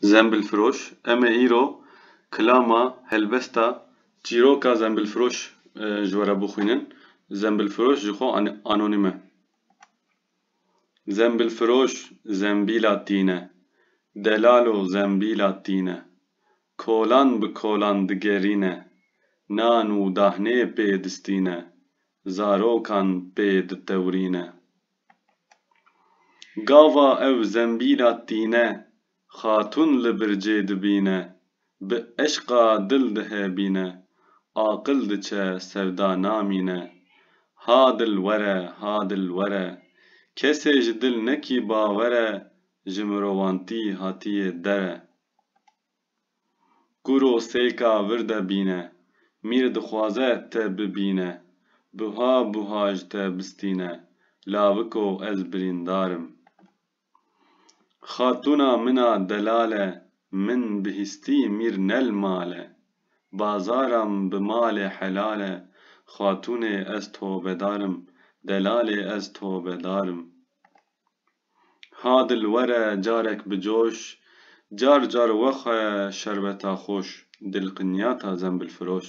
Zembilfiroş, Em ê îro kilama helbesta çîroka zembilfiroş ji we re bixwînin. Zembilfiroş ji xwe anonîm e. Zembilfiroş zembîla tîne. Delalo zembîla tîne. Kolan bi kolan digerîne. Nan û dahnê pê distîne. Zarokan pê ditewrîne. Gava ew zembîla tîne. Xatûn li bircê dibîne. Bi eşqa dil dihebîne. Aqil diçe sevda namîne. Ha dil were, ha dil were. Kesê ji dil nekî bawere. Ji mirovantî hatiyê dere. Kuro sêka vir de bîne. Mîr dixwaze te bibîne. Buha buha ji te bistîne. Laviko ez birîndar im. Xatûna min a delale. Min bi hîstî mîr nel male. Bazara min bi malê helale. Xatûnê ez tobedar im. Delalê ez tobedar im. Hadil were carek bicoş. Car car wexwe şerbeta xoş. Dil qinyata zembilfiroş.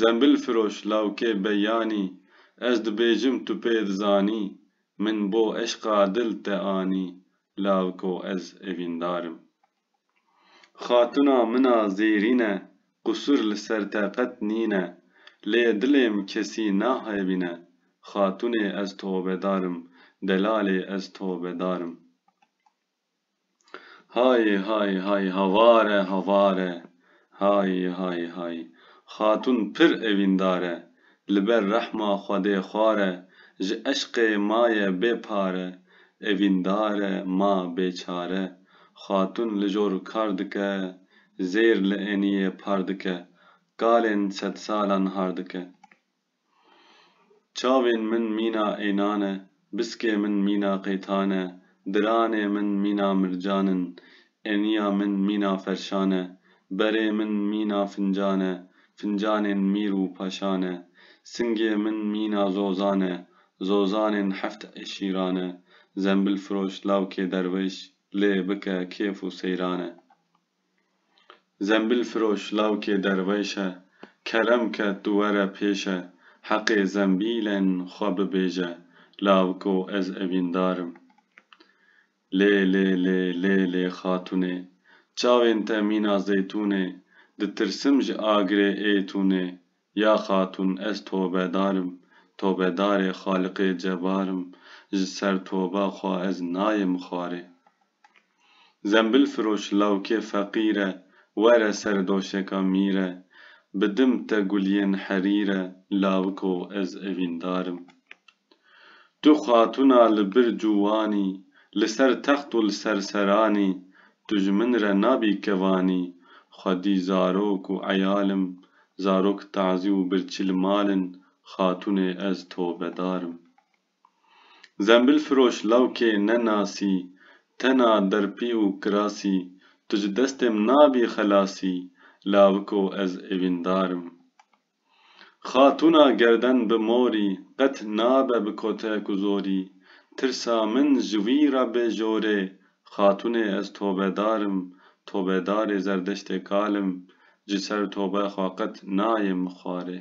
Zembilfiroş lawkê beyanî. Ez dibêjim tu pê dizanî. Min bo eşqa dil te anî. Lawiko ez evîndar im. Xatuna min a zêrîne qusur li ser te qet nîne lê dilêm kesî naxebîne Xatunê ez tobedar im delalê ez tobedar im Hay hay hay havare havare. Hayî hayî hayî. Xatûn pir evîndar e. Li ber rehma Xwedê xwar e. Ji eşqê maye bê pare. Evîndar e ma bêçare. Xatûn li jor kar dike. Zêr li eniyê par dike. Kalên sedsalan har dike. Çavên min mîna ênan e, biskê min mîna qêtan e, diranê min mîna mircan in, eniya min mîna ferşan e, berê min mîna fincan e, fincanên mîr û paşan e, singê min mîna zozan e, zozanên heft eşîran e, zembilfiroş lawkê derweş lê bike kêf û seyran e. Zembîlfiroş lawkê derwêş e, kerem ke tu were pêş e, heqê zembîlên xwe bibêje, lawiko ez evîndar im. Lê lê lê lê lê xatunê, çavên te mîna zeytûn ê, ditirsim ji agirê êtûn ê, ya xatun ez tobedar im, tobedarê Xaliqê Cebar im, ji ser toba xwe ez nayêm xwarê. Zembilfiroş lawkê feqîr e, were ser doşeka mîr e, bi dim te guliyên herîr e, lawiko ez evîndar im. Tu xatûna li bir cûwan î, li ser text û li ser seran î, tu ji min re nabî kevan î, xwedî zarok û eyal im, zarok tazî û birçî li mal in, xatûnê ez tobedar im. Zembilfiroş lawkê ne nasî Tena derpî û kirasî Tu ji destêm nabî xelasî Lawiko ez evîndar im Xatûna gerden bi morî Qet nabe bi kotek û zorî Tirsa min ji wî re bê jorê Xatûnê ez tobedar im Tobedarê zerdeştê kal im Ji ser tobe xwe qet nayê min xwarê.